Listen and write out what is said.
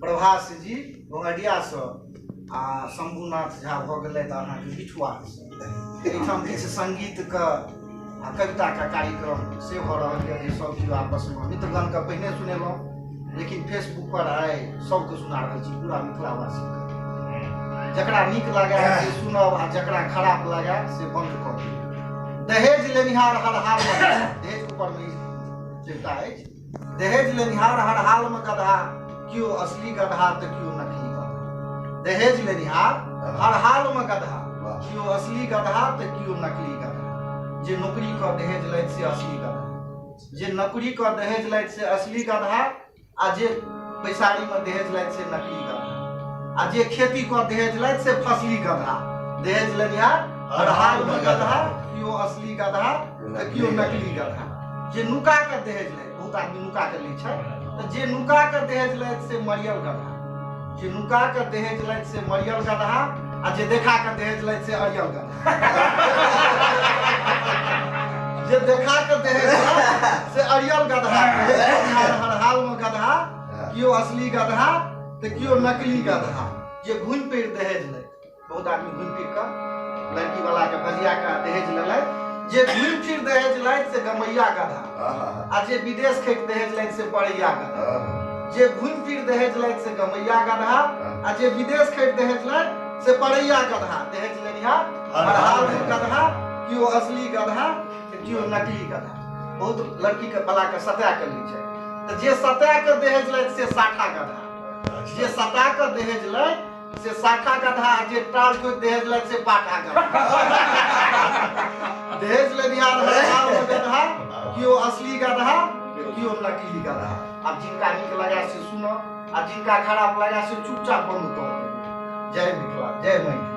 प्रभास जी बंगडियासँ आ शम्भुनाथ झा भऽ गेलथि अहाँके बिठुआसँ एहिठाम किछु सङ्गीतके आ कविताके कार्यक्रम से भऽ रहल यऽ जे सभ केओ आपसमे मित्रगणके पहिने सुनेलहुँ लेकिन फेसबुक पर आइ सभके सुना रहल छी पूरा मिथिलावासीके जकरा नीक लागए से सुनब आ जकरा खराब लागए से बन्द कऽ दियौ दहेज लेनिहार हर हालमे दहेज ऊपरमे ई देवता अछि दहेज लेनिहार हर हाल में गधा क्यों असली गधा तो क्यों नकली गधा दहेज लेनिहार हर हाल में गधा क्यों असली गधा तो क्यों नकली गधा जे नौकरी कर दहेज लैत से असली गधा जे नौकरी कर दहेज लैत से असली गधा आ जे बैसारी में दहेज लैत से नकली गधा आ जे खेती कर दहेज लैत से फसली गधा दहेज लेनिहार हर हाल में गधा क्यों असली गधा केओ नकली गधा जे नुका के दहेज लैत बहुत आदमी नुका के लै छै तऽ जे नुका के दहेज लैत से मरियल गधा जे नुका के दहेज लैत से मरियल गधा आ जे देखा के दहेज लैत से अरियल गधा जे देखा के दहेज लैत से अरियल गधा हर हाल में गधा केओ असली गधा तऽ केओ नकली गधा जे घुमि फिर दहेज लैत बहुत आदमी घुमि फिर कऽ लड़की वाला के बजिया के दहेज लेलथि जे घुमि फिर दहेज लथि से गमैया गधा आ जे विदेश खैक दहेज लथि से पड़ैया गधा जे घुमि फिर दहेज लथि से गमैया गधा आ जे विदेश खैक दहेज लथि से पड़ैया गधा दहेज लेनिहा हर हाल में गधा केओ असली गधा तऽ केओ नकली गधा बहुत लड़की के बला के सता के लै छै तऽ जे सता के दहेज लथि से साठा गधा जे सता के दहेज लथि से शाखा गधा आ जे टाल कोई दहेज लग से पाठा गधा दहेज लेनिहार है आ ओ गधा कि ओ असली गधा कि ओ नकली गधा अब जिनका नीक लगा से सुनो आ जिनका खराब लगा से चुपचाप बंद कर दे जय मिथिला जय मैथिली